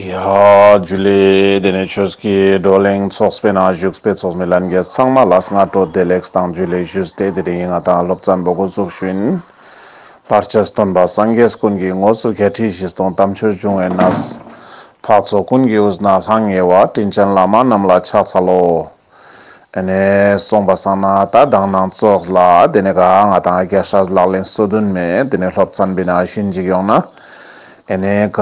ཡ། རྒྱུ་ལས། དེ་ནས་ཆོས་ཀྱི་བགྲོ་གླེང་ཚོགས་པའི་ནང་བཞུགས་པའི་ཚོགས་མི་ལམ་རྒྱས་ཚང་མ་ལ་སྔ་དྲོ་བདེ་ལེགས་དང་རྒྱུ་ལས་བཞུགས་ཏེ་དེ་རིང་ང་དང་སློབ་ཚན་པོ་སྒོ་ཟུག་ཤུན། ལྷར་བཅས་སུ་སྟོན་པ་སངས་རྒྱས་ཀུན་གྱི་ངོ་སོ་བརྒྱད་ཁྲི་བཞི་སྟོང་དམ་ཆོས་འབྱུང་བའི་ན་བཟའ། འཕགས་ཚོགས་ཀུན་གྱི་དབུས་ན་ལྷང་ངེ་བ་དྲིན་ཅན་བླ་མ་རྣམས་ལ་ཕྱག་འཚལ་ལོ། དེ་ནས་སོང་པ་སང་ན་ད་དང་ནང་ཙོགས་ལ་དེ་ནས་ག་ང་དང་ཨ་ཀྱ་ཧྲ་ལག་ལེན་སོ་དུན་མེད་དེ་ནས་སློབ་ཚན་བི་ན་ཤུན་འཇིག་ཡོང་ན་དེ་ནས་ག་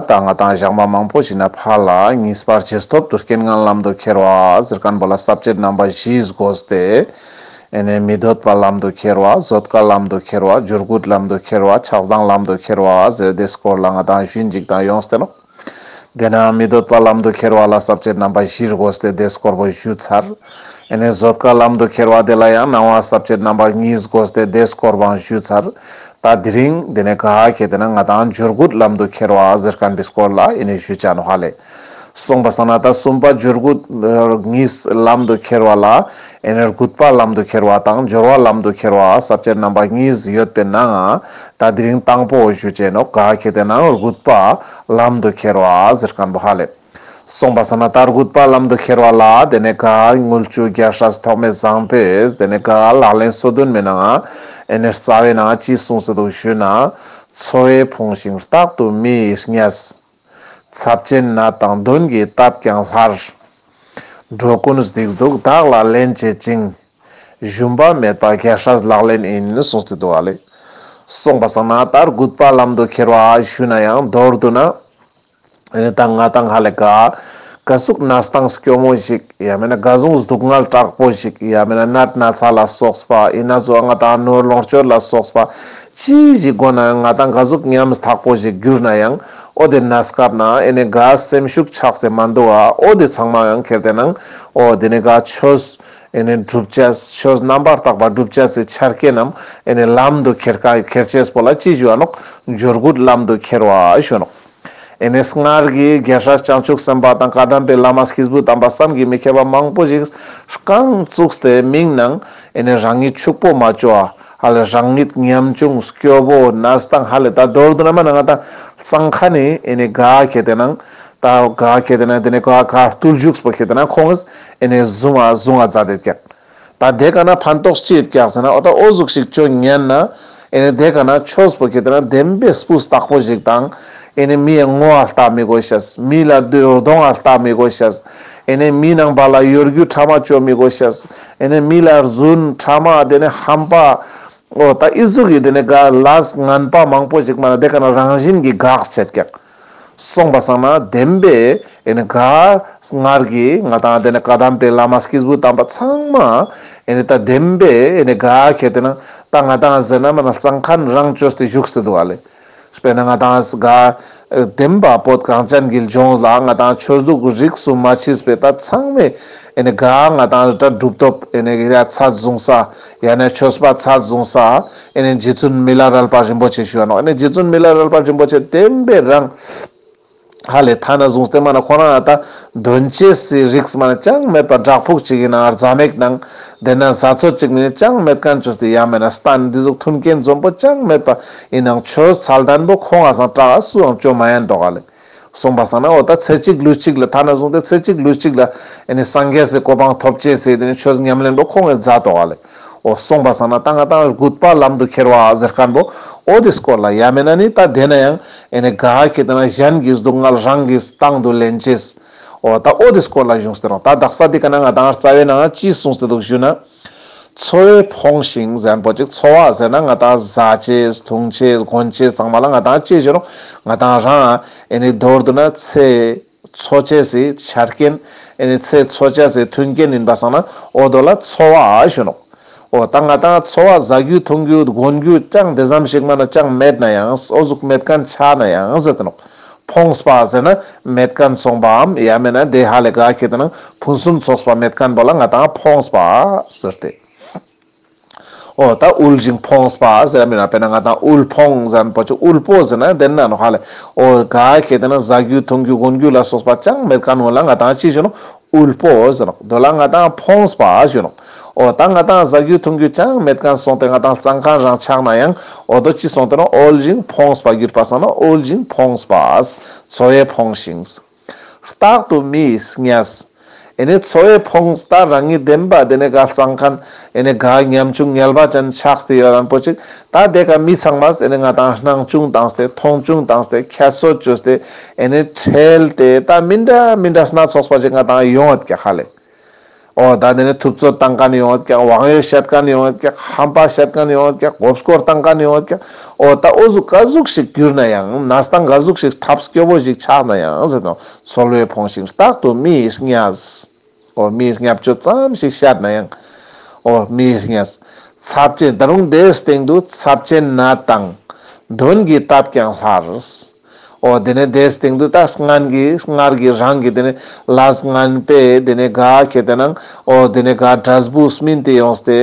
ད་ང་དང་བཞག་མ་མང་པོ་ཞིག་ན་ཕ་ལ་གཉིས་པར་ཇེ་སྟོབས་དུ་རྐེན་ངན་ལམ་དུ་ཁྱེར་བ་ཟིར་ཁན་པོ་ལ་སྲབ་ཅེར་རྣམ་པ་བཞིས་བསྒོས་ཏེ་དེ་ནས་མི་སྡོད་པ་ལམ་དུ་ཁྱེར་བ་བཟོད་དཀའ་ལམ་དུ་ཁྱེར་བ་འཇུར་སྒུལ་ལམ་དུ་ཁྱེར་བ་ཆགས་སྡང་ལམ་དུ་ཁྱེར་བ་ཟེར་དེ་སྐོར་ལ་ང་དང་ཤུན་འཇིག་དང་ཡོང་སྟེ་ལོག། དེ་ནའང་མི་སྡོད་པར་ལམ་དུ་ཁྱེར་བ་ལ་ཟབ་ཆོས་རྣམ་པ་བཞིར་དགོས་ཏེ་དེས་དཀོར་པོ་བཞུ་ཚར། དེ་ནས་བཟོད་དཀའ་ལམ་དུ་ཁྱེར་བ་དེ་ལ་ཡང་སྣང་བ་ཟབ་ཆོས་རྣམ་པ་གཉིས་དགོས་ཏེ་དེས་དཀོར་བང་བཞུ་ཚར། ད་དི་རིང། དེ་ནས་ག་ཧ་ཁྱེད་དེ་ན་ང་དང་འཇུར་དགུད་ལམ་དུ་ཁྱེར་བ་གཟེར་ཁམ་བིས་དཀོར་ལ་ཨི་ནི་བཞུ་བྱ་ནུ་ཧ་ལས། གསུངས་པ་ས་ན་ད་གསུམ་པ་འཇུར་དགུད་གཉིས་ལམ་དུ་ཁྱེར་བ་ལ་ཨི་ནི་རྒུད་པ་ལམ་དུ་ཁྱེར་བ་དང་འཇོར་བ་ལམ་དུ་ཁྱེར་བ་ཟབ་ཆོས་རྣམ་པ་གཉིས་ཡོད་པས་ནའང། ད་དེ་རིང་དང་པོ་བཞུ་བཅས་ནོ་ག་ཁེ་དེ་ནང་རྒུད་པ་ལམ་དུ་ཁྱེར་བ་ཟེར་ག་འདུག་ཧ་ལས་སོང་པ་ས་ན་ད་རྒུད་པ་ལམ་དུ་ཁྱེར་བ་ལ་དེ་ནས་ག་དངུལ་བཅུ་བརྒྱ་ཧྲས་ཐོག་མེད་བཟང་པོས་དེ་ནས་ག་ལག་ལེན་སོ་བདུན་མེད་ནའང་ཨེ་ནས་རྩ་བའི་ནང་ཅི་གསུངས་ཟེར་འདུག་བཞུད་ན་འཚོ་བའི་ཕོངས་ཤིང་རྟག་ཏུ་མི་ཡི་གཉེས་ཚབ་ཅན་ན་དང་བདུན་གྱིས་བཏབ་ཀྱང་སླར་འགྲོ་ཀུན་བསྡིགས་འདུག་བདག་ལ་ལན་བྱེད་ཅིང། བཞོན་པ་མེད་པ་རྒྱལ་ཧྲལ་ལག་ལེན་ཨིན་གསུངས་ཚུལ་འདུག་ཨ་ལེ། གསུངས་པ་བསམ་ན་ད་རྒུད་པ་ལམ་དུ་ཁྱེར་བ་ཞུས་ན་ཡང་མདོར་བསྡུ་ན། ཨེ་ད་ང་དང་ཧ་ལས་ག། ག་ཟུག་ན་སྟངས་སྐྱོ་མོ་ཞིག་ཡ་མེད་ན་ག་ཟུང་སྡུག་བསྔལ་དྲག་པོ་ཞིག་ཡ་མེད་ན་ནད་ན་ཚ་ལ་སོགས་པ་ཡིན་ན་ཟོ་ང་དང་ནོར་ལོངས་སྤྱོད་ལ་སོགས་པ་ཅི་ཞིག་དགོས་ན་ང་དང་ག་ཟུག་ཉམས་ཐག་པོ་ཞིག་གྱུར་ན་ཡང་ཨོ་དེ་ན་སྐབས་ན་ཨེ་ནས་ག་སེམས་ཤུགས་ཆགས་ཏེ་མ་འདུག་ཨ་ཨོ་དེ་ཚང་མ་ཡང་ཁེར་དེ་ནང་ཨོ་དེ་ནས་ག་ཆོས། ཨེ་ནས་བསྒྲུབ་བྱ་ཆོས་རྣམ་པར་དག་པ་བསྒྲུབ་བྱ་ཚེ་འཆར་ཀའི་རྣམས་ཨེ་ནས་ལམ་དུ་ཁྱེར་ཁ་ཁྱེར་བྱེད་པོ་ལ་ཅི་བྱུང་བ་ནོ། འབྱོར་རྒུད་ལམ་དུ་ཁྱེར་བ་གཞོན་ནོ། ཨེ་ནས་སྔར་གྱི་རྒྱལ་སྲས་བྱང་ཆུབ་སེམས་དཔའ་དང་བཀའ་གདམས་པའི་བླ་མ་སྐྱེས་བུ་དམ་པ་བསམ་གྱིས་མི་ཁྱབ་པ་མང་པོ་ཞིག་རྐང་བཙུགས་ཏེ་མིག་ནང་ཨེ་ནས་རང་ཉིད་ཕྱུག་པོ་མ་བཅོ་ཨ་ཧ་ལས་རང་ཉིད་ཉམ་ཆུང་སྐྱོ་བོ་ནས་དང་ཧ་ལས་ད་རྡོར་དུ་ན་མ་ན་ང་དང་གཙང་ཁ་ནས་ཨེ་ནས་དགའ་ཁྱེད་དེ་ནང་ད་ག་གེ་དེ་ན་དེ་ནས་ག་ག་ཏུལ་བཞུགས་སྤོ་གེ་དེ་ན་ཁོང་ཨིས་ཨེ་ནས་བཟུང་ཨ་བཟུང་ཨ་ཛ་དེ་བཀྱག། ད་དེ་ག་ན་ཕན་ཏོག་སྤྱི་ཨེ་བཀྱག་ཟེར་ན་ཨོ་ད་ཨོ་གཟུགས་ཤིག་ཅོ་ཉན་ན། ཨེ་ནས་དེ་ག་ན་ཆོས་སྤོ་གེ་དེ་ན་བདེན་པའི་སྤུ་བརྟག་པོ་ཞིག་དང། ཨེ་ནས་མི་ཨེ་ངོ་ཨ་ལྟ་མི་དགོས་ཤེས། མི་ལ་དུད་རྡོང་ཨ་ལྟ་མི་དགོས་ཤེས། ཨེ་ནས་མི་ནང་པ་ལ་ཡོད་རྒུ་ཕྲ་མ་བཅོ་མི་དགོས་ཤེས། ཨེ་ནས་མི་ལ་རྫུན་ཕྲ་མ་དེ་ནས་ཧམ་པ། ཨོ་ད་ཨི་གཟུགས་ཡིན་དེ་ནས་ག་ལ་ངན་པ་མང་པོ་ཞིག་སྨྲ་ན་དེ་ག་ན་རང་བཞིན་གྱི་གགས་ཆད་བཀྱག། གསུངས་པ་བསམ་ན་བདེན་པས་དགའ། སྔར་གྱི་ང་དང་དེ་ནས་བཀའ་གདམས་པའི་བླ་མ་སྐྱེས་བུ་དམ་པ་ཚང་མ། ད་བདེན་པས་དགའ་གལ་ཏེ་ན། ད་ང་དང་ཟེར་ན་མ་ན་གཙང་ཁཱན་རང་བཅོས་ཏེ་བཞུགས་སུ་འདུག་ཨ་ལས། དཔེར་ན་ང་དང་དགའ། བདེན་པ་བོད་གངས་ཅན་དགེ་ལྗོངས་ལ་ང་དང་ཆོས་ལུགས་རིགས་གསུམ་མ་མཆིས་པས་ད་ཚང་མས་དགའ། ང་དང་རི་བྲག་གྲུབ་ཐོབ། ཚ་བཟུང་ས། ཡང་ན་ཆོས་པ་ཚ་བཟུང་ས་ཨེ་ནས་རྗེ་བཙུན་མི་ལ་རལ་པ་རིན་པོ་ཆེ་ཞུ་བ་ནོ་ཨེ་ནས་རྗེ་བཙུན་མི་ལ་རལ་པ་རིན་པོ་ཆེ་བསྟན་པའི་རང་ཧ་ལས་ཐ་ན་བཟུང་སྟེ་མ་ན་ཁོ་རང་ཨ་ད་དོན་སྐྱེ་སའི་རིགས་མ་ན་ཅང་མེད་པ་བྲག་ཕུག་ཅིག་གི་ནང་རྫ་མེག་ནང་བསྡད་ན་བཟའ་ཚོ་ཅིག་མིན་ཅང་མེད་གན་ཆོས་དེ་ཡང་མེད་ན་སྟ་ནི་འདི་གཟུགས་མཐུན་རྐྱེན་འཛོམས་པོ་ཅང་མེད་པ་ཡི་ནང་ཆོས་ཚལ་དན་པོ་ཁོ་ང་སང་བཀྲ་ཨ་སུའང་སྐྱོན་མ་ཡན་འགྲོག་ཨ་ལས། གསུངས་པ་ས་ན་འོ་ད་ཚེ་གཅིག་ལུས་གཅིག་ལ་ཐ་ན་གསུངས་ཏེ་ཚེ་གཅིག་ལུས་གཅིག་ལ་སངས་རྒྱས་སུ་གོ་འཕང་ཐོབ་ཅེས་ཟེར་ཏེ་ཆོས་ཉམས་ལེན་པོ་ཁོ་ངའི་མཛའ་གཏོགས་བ་ལས་འོ་གསུངས་པ་ས་ན་ད་ང་ཏང་རྒུད་པ་ལམ་དུ་ཁྱེར་བ་ཟེར་སྐལ་པོ་འོ་དེ་སྐོར་ལ་ཡ་མེད་ན་ནི་ད་བསྡད་ན་ཡང་དགའ་ཧ་ཁྱེད་ལྟ་ན་གཞན་གྱི་སྡུག་བསྔལ་རང་གིས་ཏང་དུ་ལེན་བྱེད་འོ་ད་འོ་དེ་སྐོར་ལ་གཞུང་ཟེར་རོ་ད་བདག་ས་དེ་ག་ན་ང་ད་སྔར་རྩ་བའི་ནང་ལ་ཅི་གསུངས་ཟེར་འདུག་ཞུས་ན། འཚོ་བའི་ཕོངས་ཤིང་ཟན་པོ་ཅིག་འཚོ་བ་ཟེར་ན་ང་དང་བཟའ་བྱེད་དུང་བྱེད་དགོན་བྱེད་ཚང་མ་ལ་ང་དང་གཅིག་གྱུར་ང་དང་རང་ཨེ་ནི་མདོར་བསྡུ་ན་ཚེ་འཚོ་བྱེད་སའི་ཆ་རྐྱེན་ཨེ་ནི་ཚེ་འཚོ་བྱ་སའི་མཐུན་རྐྱེན་ཡིན་པ་བསམ་ན་འོ་དོ་ལ་འཚོ་བ་གཞོན་ནུ་འོ་ད་ང་དང་འཚོ་བ་བཟའ་རྒྱུ་འཐུང་རྒྱུ་དགོན་རྒྱུ་ཅང་དེ་ཙམ་ཞིག་མ་ན་ཅང་མེད་ན་ཡང་སོ་གཟུགས་མེད་གན་ཆགས་ན་ཡང་ཟེར་ཏེ་ནོག་ཕོངས་པ་ཟེར་ན་མེད་ཀན་སོང་པའམ་ཡ་མེད་ན་བདེ་ཧ་ལས་དགའ་ཁྱེད་ད་ནང་ཕུན་སུམ་ཚོགས་པ་མེད་ཀན་པོ་ལ་ང་ད་ཕོངས་པ་ཟེར་ཏེ། ཨོ་ད་དབུལ་ཞིང་ཕོངས་པ་ཟེར་ཡ་མེད་ན་དཔེར་ན་ང་ད་དབུལ་ཕོངས་ཟེར་ན་པོ་ཆུ་དབུལ་པོ་ཟེར་ན་བདེན་ནའང་ཧ་ལས་ཨོ་དགའ་ཁྱེད་ད་ནང་བཟའ་རྒྱུ་འཐུང་རྒྱུ་གོན་རྒྱུ་ལ་སོགས་པ་ཅང་མེད་ཀན་ཡོང་ལ་ང་ད་ཅི་བྱུང་དབུལ་པོ་བཞིན་ནོ། དོན་ལ་ང་དང་ཕོངས་པ་བཞིན་ནོ། འོ་ད་ང་དང་བཟའ་རྒྱུ་འཐུང་རྒྱུ་ཅང་མེད་གང་སོང་སྟེ་ང་དང་གཙང་ཁང་རང་ཆགས་ན་ཡང་འོ་ད་ཅི་སོང་སྟེ་ནོ་དབུལ་ཞིང་ཕོངས་པ་གྱུར་པ་སང་ནོ་དབུལ་ཞིང་ཕོངས་པ། འཚོ་བས་ཕོངས་ཤིང། རྟག་ཏུ་མི་གཉའས། ཨེ་ནི་འཚོ་བས་ཕོངས་ད་རང་ཉིད་བདེན་པ་དེ་ནས་ག་གཙང་ཁང་ཨེ་ནི་ག་ཉམ་ཆུང་ཉལ་བ་ཅན་ཆགས་སྟེ་ཡོད་ཨང་པོ་ཅིག་ད་དེ་ག་མི་ཚང་མ་ཟེར་ནས་ང་དང་སྣང་ཅུང་དང་ཟེར་མཐོང་ཅུང་དང་ཟེར་ཁྱད་གསོད་ཅུ་ཟེར་ཨེ་ནི་ཁྲེལ་ཏེ་ད་མི་འདྲ་མི་འདྲ་སྣ་ཚོགས་པ་ཞིག་ང་དང་ཡོང་ཨེ་ཀྱ་ཧ་ལས། ཨོ་ད་དེ་ནི་ཐུབ་ཚོད་བཏང་ག་ནི་ཡོང་ཨེ་ཀྱ་བང་ཡོད་བཤད་ག་ནི་ཡོང་ཨེ་ཀྱ་ཧམ་པ་བཤད་ག་ནི་ཡོང་ཨེ་ཀྱ་གོབ་སྐོར་བཏང་ག་ནི་ཡོང་ཨེ་ཀྱ་ཨོ་ད་ཨོ་གཟུགས་ཀ་གཟུགས་ཤིག་གྱུར་ན་ཡང་ནས་སྟངས་ག་གཟུགས་ཤིག་ཐབས་སྐྱོ་བོ་ཞིག་ཆགས་ན་ཡང་ཟེར་ནོ་འཚོ་བློས་ཕོངས་ཤིང་རྟག་ཏུ་མི་ཡི་གཉའ་ཟེ། ཨོ་མི་ཧྲཉ྄་བཅུ་ཙམ་ཞིག་ཤར་ན་ཡང། ཨོ་མི་ཧྲཉ྄། ཚབས་ཆེན་ད་རུང་དེའི་སྟེང་དུ་ཚབས་ཆེན་ན་དང། མདུན་གྱི་སྟབས་ཀྱང་སླར། ཨོ་དེ་ནས་དེའི་སྟེང་དུ་ད་སྔན་གྱི་སྔར་གྱི་རང་གི་དེ་ནས་ལ་སྔན་པས་དེ་ནས་ག་ཁྱེད་དེ་ནང་ཨོ་དེ་ནས་ག་སྒྲ་སྦུག་སྨིན་དེ་ཡོང་སྟེ།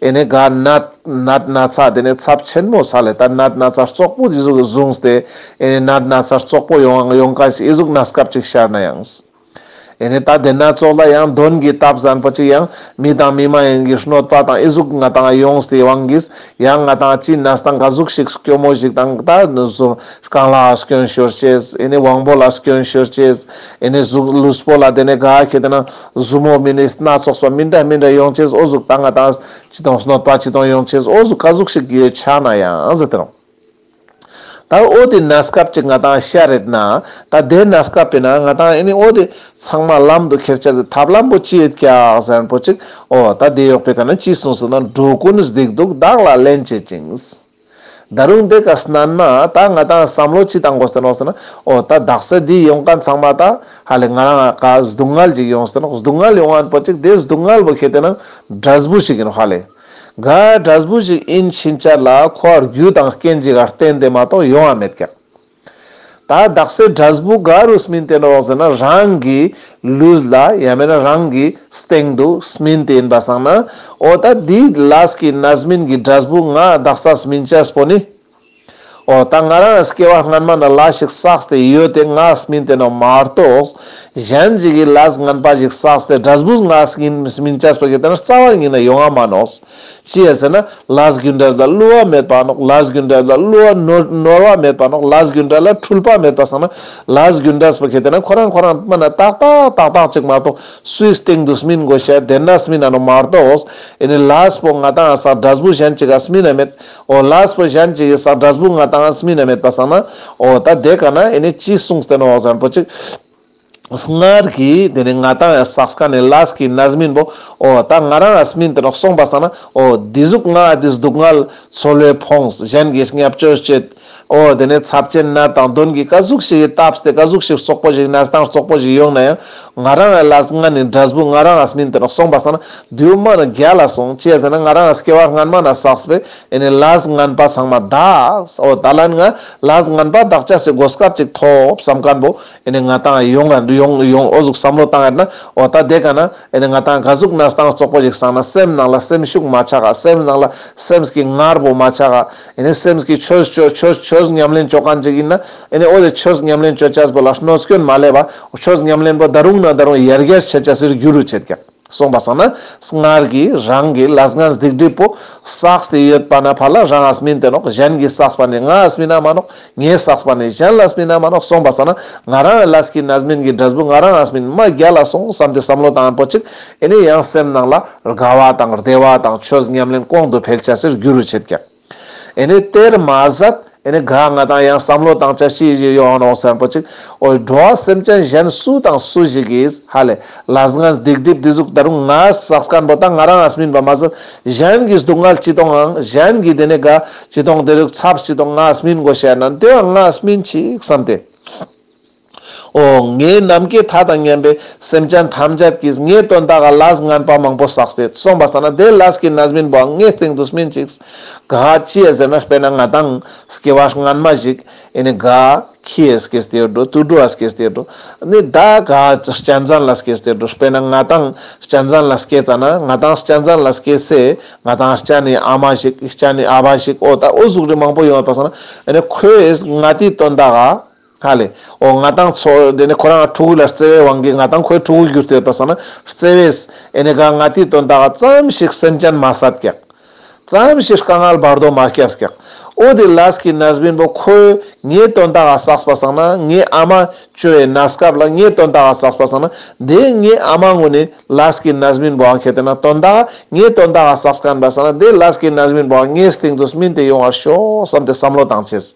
ཨེ་ནས་ག་ནད་ནད་ན་ཚ་དེ་ནས་ཚབས་ཆེན་མོ་ས་ལས་ད་ནད་ན་ཚ་ཙོག་པོ་འཇིགས་བཟུང་སྟེ། ཨེ་ནས་ནད་ན་ཚ་ཙོག་པོ་ཡོང་ཡོང་ག་ཞིག་ཨེ་གཟུགས་ན་སྐབས་ཅིག་ཤར་ན་ཡང། ཨེ་ནས་ད་དེ་ན་ཚོགས་ལ་ཡང་གདོན་གྱི་རྟ་བཟང་པོ་ཅིག་ཡང་མི་དང་མི་མ་ཡིན་གྱི་གནོད་པ་དང་ཨི་གཟུགས་ང་དང་ཡོངས་སྟེ་དབང་གིས་ཡང་ང་དང་ཅི་ན་སྟངས་ཀ་གཟུགས་ཤིག་སྐྱོ་མོ་ཞིག་དང་ད་གཟུགས་རྐང་ལག་སྐྱོན་ཤོར་ཅེས་ཨེ་ནས་དབང་པོ་ལ་སྐྱོན་ཤོར་ཅེས་ཨེ་ནས་གཟུགས་ལུས་པོ་ལ་དེ་ནས་ག་གེ་དེ་ན་གཟུགས་མོ་མི་ནས་སྣ་ཚོགས་པ་མི་འདྲ་མི་འདྲ་ཡོང་ཅེས་ཨོ་གཟུགས་ད་ང་དང་ཅི་དང་གནོད་པ་ཅི་དང་ཡོང་ཅེས་ཨོ་གཟུགས་ག་གཟུགས་ཤིག་གི་ཆ་ན་ཡང་ཟེར་དེ་རང། ད་ཨོ་དེ་ན་སྐབས་ཀྱི་ང་དང་ཤ་རེད་ན། ད་དེ་ན་སྐབས་པས་ན་ང་དང་ཨེ་ནི་ཨོ་དེ། ཚང་མ་ལམ་དུ་ཁྱེར་བྱ་ཟེར་ཐབས་ལམ་པོ་ཅི་ཡོད་ཀྱག་ཟེར་པོ་ཅིག་ཨོ། ད་དེ་ཡོག་པས་ག་ན་ཅི་གསུངས་སོ་ན་འགྲོ་ཀུན་གཟིགས་འདུག་བདག་ལ་ལན་བྱེད་ཅིང། ད་རུང་དེ་ག་སྣང་ན་ད་ང་དང་བསམ་བློ་ཅི་བཏང་དགོ་ཟེར་ནོག་ཟེར་ན་ཨོ། ད་བདག་ས་འདི་ཡོང་ག་ཚང་མ་ད། ཧ་ལས་ང་རང་ག་སྡུག་བསྔལ་ཅིག་ཡོང་ཟེར་ནོག་སྡུག་བསྔལ་ཡོང་བ་པོ་ཅིག་དེ་སྡུག་བསྔལ་བོ་ཤེས་དེ་ན་འདྲ་སྦུ་ཞིག་ཡིན་ནོག་ཧ་ལས། འགའ་གྲྭ་བུ་ཞིག་ཨིན་ཕྱིན་བཅར་ལ་ཁོ་བར་རྒྱུ་དང་རྐྱེན་ཅི་ག་བསྟན་དེ་མ་གཏོགས་ཡོང་བ་མེད་ཀྱང། ད་བདག་སའི་གྲྭ་བུ་འགའ་རུ་སྨིན་དེ་འགྲོ་ཟེར་ན་རང་གི་ལུས་ལ་ཡང་མེད་ན་རང་གི་སྟེང་དུ་སྨིན་དེ་ཡིན་པ་བསམ་ན་འོ་ད་འདི་ལ་སྐྱིད་ན་སྨིན་གྱི་གྲྭ་བུ་འགའ་བདག་ས་སྨིན་བཅས་པོ་ནི་འོ་ད་ང་རང་སྐྱེ་བ་སྔན་མ་ན་ལ་ཞིག་བསགས་ཏེ་ཡོད་དེ་ང་སྨིན་དེ་ནོ་མ་རྟོགས། གཞན་ཅིག་གིས་ལས་སྔན་པ་ཞིག་བསགས་ཏེ་དགྲ་སྦུས་ང་སྐྱིན་སྨིན་བྱས་པ་གི་དེ་ན་རྩ་བ་ཉིད་ན་ཡོ་ང་མ་ནོགས། ཅེས་ཟེར་ན་ལས་སྒྱུ་འདྲལ་ལ་བསླུ་བ་མེད་པ་ནོགས་ལས་སྒྱུ་འདྲལ་ལ་བསླུ་བ་ནོར་བ་མེད་པ་ནོགས་ལས་སྒྱུ་འདྲལ་ལ་འཁྲུལ་པ་མེད་པ་བསགས་ན་ལས་སྒྱུ་འདྲལ་པ་གི་དེ་ན་ཁོ་རང་ཁོ་རང་སྨིན་ན་ཏག་ཏག་ཏག་ཏག་ཅིག་མ་རྟོགས་སུའི་སྟེང་དུ་སྨིན་དགོས་ཤེ་དེ་ན་སྨིན་ན་ནོ་མ་རྟོགས། ཨེ་ནི་ལས་སྤོ་ང་དང་བསགས་དགྲ་སྦུས་གཞན་ཅིག་ག་སྨིན་ན་མེད། ཨོ་ལགས་བུ་གཞན་གྱི་གསར་སྒྲ་སྦུག་ང་དང་སྨིན་ནས་མེད་པ་བསམ་ན་ཨོ་ད་དེ་ག་ན་ཨེ་ནི་ཅི་གསུངས་ཟེར་ནོ་འོག་བཟང་པོ་ཅིག་སྔར་གྱི་དེ་ནི་ང་དང་ཡང་སགས་ཀ་ནི་ལགས་ཀྱི་ན་སྨིན་པོ་ཨོ་ད་ང་རང་ཡང་སྨིན་དེ་ནོག་སོང་པ་བསམ་ན་ཨོ་འདི་གཟུགས་ང་འདི་སྡུག་བསྔལ་མཚོ་ལྷོའི་ཕོངས་གཞན་གྱི་སྙབ་སྤྱོད་བྱེད། ཨོ་དེ་ནས་ཚབས་ཆེན་ན་དང་དོན་གྱི་བཀའ་གཟུགས་ཤིག་ཡིན་སྟབས་དེ་བཀའ་གཟུགས་ཤིག་སོག་པོ་ཞིག་ན་སྟངས་སོག་པོ་ཞིག་ཡོང་ན་ཡང་ང་རང་ཨ་ལགས་ང་ནི་འདྲ་སྦུག་ང་རང་ཨ་སྨིན་དེ་རུ་སོང་པ་ཟེར་ན་དུས་སྨོན་ནི་རྒྱ་ལ་སོང་ཅེས་ཟེར་ན་ང་རང་ཨ་སྐྱེ་བ་སྔན་མ་ན་སགས་པས་ཨེ་ནི་ལགས་སྔན་པ་ཚང་མ་བདག་ཨོ་ད་ལན་ང་ལགས་སྔན་པ་བདག་ཅག་སེ་གོ་སྐབས་ཅིག་ཐོབ་བསམ་ཀན་པོ་ཨེ་ནི་ང་དང་ཡོང་ཨ་ཡོང་ཡོང་ཨོ་གཟུགས་བསམ་བློ་བཏང་ཨེ་ན་ཨོ་ད་དེ་ག་ན་ཨེ་ནི་ང་དང་བཀའ་གཟུགས་ན་སྟངས་སོག་པོ་ཞིག་སང་ན་སེམས་ནང་ལ་སེམས་ཤུགས་མ་ཆག་ཨ་སེམས་ནང་ལ་སེམས་ཀྱི་ངར་བོ་མ་ཆག་ཨ་ཨེ་ནས་སེམས་ཀྱི་ཆོས་སྤྱོད་ཆོས་ཆོས་ཉམས་ལེན་སྤྱོད་གང་ཅིག་ཡིན་ན་ཨེ་ནས་ཨོ་དེ་ཆོས་ཉམས་ལེན་སྤྱོད་བྱ་པོ་ལ་གནོད་སྐྱོན་མ་ལས་པ་ཆོས་ཉམས་ལེན་པོ་ད་རུང་ན་ད་རུང་ཡར་རྒྱས་བྱེད་བྱ་སེར་རྒྱུ་རུ་བྱེད་ཀྱང་གསུངས་པ་སང་ན་སྔར་གྱི་རང་གི་ལ་སྔར་སྡིག་སྒྲིབ་པོ་བསགས་ཏེ་ཡོད་པ་ན་ཕར་ལ་རང་ཨ་སྨིན་དེ་ནོག་གཞན་གྱིས་བསགས་པ་ནི་ང་ཨ་སྨིན་ཨ་མ་ནོག་ངས་སགས་པ་ནས་གཞན་ལ་སྨིན་ན་མ་རོགས་སོང་བ་ཟ་ན་ང་རང་ཨེ་ལས་ཀི་ན་སྨིན་གི་འདྲ་སྦུག་ང་རང་ཨ་སྨིན་མ་རྒྱ་ལ་སོང་བསམ་ཏེ་བསམ་བློ་དང་པོ་གཅིག་ཨེ་ནས་ཡང་སེམས་ནང་ལ་རྒ་བ་དང་རྡེ་བ་དང་ཆོས་ཉམས་ལེན་ཀོང་དུ་ཕེག་བྱ་སེར་རྒྱུ་རུ་བྱེད་ཀྱང་ཨེ་ནས་དེར་མ་ཟད་ཨེ་ནས་ག་ང་དང་ཡང་བསམ་བློ་དང་བྱ་ཤི་བཞི་ཡོང་རོགས་སེམས་པོ་གཅིག་ཨོའི་འགྲོ་བ་སེམས་ཅན་གཞན་སུ་དང་སུ་ཞིག་གིས་ཧ་ལས་ལ་སྔ་སྡིག་སྒྲིབ་སྡིག་གཟུགས་ད་རུང་ང་སགས་སྐམ་པོ་དང་ང་རང་ཨ་སྨིན་པ་མ་ཟད་གཞན་གི་སྡུག་བསྔལ་ཅི་གཏོང་ཨང་གཞན་གི་དེ་ནས་ག། སྤྱི་སྟོང་དེ་རིགས་ཚབ་སྤྱི་སྟོང་ངའས་སྨིན་གོ་བཤད་ན་དེ་འང་ངའས་སྨིན་ཅིག་བསམ་ཏེ། ཨོ། ངའི་ནམ་མཁའི་མཐའ་དང་མཉམ་པའི་སེམས་ཅན་ཐམས་ཅད་ཀྱིས་ངའི་དོན་དག་ག་ལ་སྔན་པ་མང་པོ་བསགས་སྲིད་གསུངས་པ་ལྟར་ན་དེ་ལ་སྐྱིད་ན་སྨིན་པའང་ངའི་སྟེང་དུ་སྨིན་ཅིག། ག་ཅེས་ཟེར་ན་དཔེར་ན་ང་དང། སྐྱེ་བ་སྔ་མ་ཞིག། ཨེ་ནི་ག། ཁྱི་ཨ་སྐད་སྟེར་འགྲོ་དུད་འགྲོ་ཨ་སྐད་སྟེར་འགྲོ། ནི་བདག་ག་ཅི་སྐྱ་འཛངས་ལ་སྐད་སྟེར་འགྲོ་དཔེར་ན་ང་དང་སྐྱ་འཛངས་ལ་སྐད་བཙལ་ན་ང་དང་སྐྱ་འཛངས་ལ་སྐད་བསྲེ་ང་དང་སྐྱ་ནི་ཨ་མ་ཞིག་སྐྱ་ནི་ཨ་ཕ་ཞིག་ཨོ་ད་ཨོ་གཟུགས་རིས་མང་པོ་ཡོང་བ་བར་སོང་ན་ཨེ་ནི་ཁོས་ང་དེའི་དོན་དག་ག་ག་ལས་ཨོ་ང་དང་ཚོ་དེ་ནི་ཁོ་རང་ཕྲུ་གུ་ལ་བརྩེ་བའི་དབང་གིས་ང་དང་ཁོའི་ཕྲུ་གུ་གྱུར་ཏེ་བར་སོང་ན་བརྩེ་བས་ཨེ་ནི་ག་ང་དེའི་དོན་དག་ག་ཙམ་ཞིག་སེམས་ཅན་མ་སྲ་བརྐྱགས། བརྩམས་ཞེས་བཀའ་མངགས་བར་དོ་མ་སྐྱབས་སྐྱག། ཨོ་དེ་ལཱས་ཀྱི་ན་སྦིན་པོ་ཁོས་ངའི་དོན་དག་ཨ་སགས་པ་བསགས་ན་ངའི་ཨ་མ་ཅོ་ཡའི་ན་སྐབས་ལ་ངའི་དོན་དག་ཨ་སགས་པ་བསགས་ན་དེ་ངའི་ཨ་མ་ངོ་ནི་ལཱས་ཀྱི་ན་སྦིན་པོ་ཨ་ཁེ་དེ་ན་དོན་དག་ངའི་དོན་དག་ཨ་སགས་པ་བསགས་ན་དེ་ལཱས་ཀྱི་ན་སྦིན་པོ་ཨ་ངའི་སྟེང་དུ་སྨིན་དེ་ཡོང་བར་ཤོག་བསམ་སྟེ་བསམ་བློ་བཏང་ཆེས།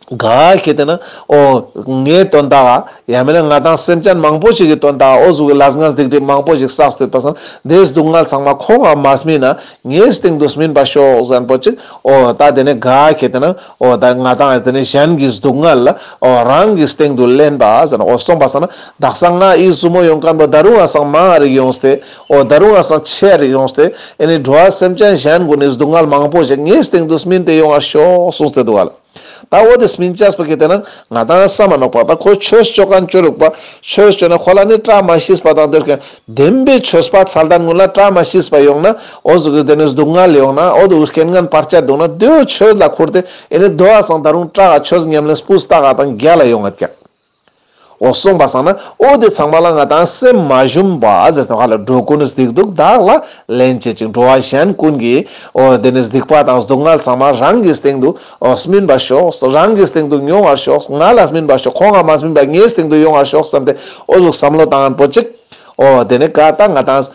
ག་ཁྱེད་ལྟས་ན་ཨོ། ངའི་དོན་དག་ཨ། ཡང་མིན་ན་ང་དང་སེམས་ཅན་མང་པོ་ཞིག་གི་དོན་དག་ཨོ་གཟུགས་ཀྱི་ལགས་ངས་སྡིག་སྒྲིབ་མང་པོ་ཞིག་བསགས་སྡོད་པ་བསམ། འདིའི་སྡུག་བསྔལ་ཚང་མ་ཁོང་ཨ་མ་སྨིན་ན། ངའི་སྟེང་དུ་སྨིན་པ་ཤོག་གཟན་པོ་གཅིག་ཨོ། ད་དེ་ནས་ག་ཁྱེད་ལྟས་ན་ཨོ། ད་ང་དང་ཨ་དེ་ནས་གཞན་གྱི་སྡུག་བསྔལ་ཨོ། རང་གི་སྟེང་དུ་ལེན་པ་ཨ་ཟེར་ན་ཨོ་སོང་པ་བསམ་ན། བདག་སང་ང་ཨི་བཟུ་མོ་ཡོང་ཀན་པོ་ད་རུང་ཨ་སང་མ་རིག་ཡོང་སྟེ་ཨོ། ད་རུང་ཨ་སང་ཆེ་རིག་ཡོང་སྟེ། ཨེ་ནི་འགྲོ་ཨ་སེམས་ཅན་གཞན་ཀུན་ནས་སྡུག་བསྔལ་མང་པོ་ཞིག་ངའི་སྟེང་དུ་སྨིན་ཏེ་ཡོང་ཨ་ཤོག་གསུངས་སྟེ་འདུག་ཨ་ལ། ད་འོ་དེ་སྨིན་ཅཱས་པ་གི་དེ་ན་ང་དང་ས་མ་ནོག་པ་དང་ཁོའི་ཆོས་སྤྱོད་གང་སྤྱོད་རུག་པ་ཆོས་སྤྱོད་ན་ཁོ་ལ་ནི་བཀྲ་མ་ཤིས་པ་དང་འདོད་མཁན་བདེན་པའི་ཆོས་སྤ་ཚལ་དང་དངུལ་ལ་བཀྲ་མ་ཤིས་པ་ཡོང་ན་འོ་ཟུག་གི་དེ་ནས་སྡུག་བསྔལ་ཡོང་ན་འོ་དུ་བུ་རྐྱེན་ངན་བར་ཆད་འདུག་ན་དུས་འོ་ཆོས་ལ་འཁུར་དེ་ཨེ་ནི་དུ་བ་སང་ད་རུང་བཀྲ་ག་ཆོས་ཉམས་ལེན་སྤུ་ཟྟ་ག་དང་རྒྱ་ལ་ཡོང་ང་བཀྱགས། འོ་གསུངས་པ་བསམ་ན་འོ་དེ་ཚང་མ་ལ་ང་དང་སེམས་མ་ཞུམ་པ་ཟེར་ཐོག་ཁ་ལ་འགྲོ་ཀུན་གཟིགས་འདུག་བདག་ལ་ལན་བྱེད་ཅིག་འགྲོ་བ་གཞན་ཀུན་གྱི་འོ་དེ་ནི་སྡིག་པ་དང་སྡུག་བསྔལ་ཚང་མ་རང་གི་སྟེང་དུ་འོ་སྨིན་པར་ཤོག་རང་གི་སྟེང་དུ་མྱོང་བར་ཤོག་ང་ལ་སྨིན་པར་ཤོག་ཁོང་ལ་མ་སྨིན་པར་ངའི་སྟེང་དུ་ཡོང་བར་ཤོག་བསམ་སྟེ་འོ་གཟུགས་བསམ་བློ་དང་པོ་གཅིག་འོ་དེ་ནི་ཀ་ད་ང་དང།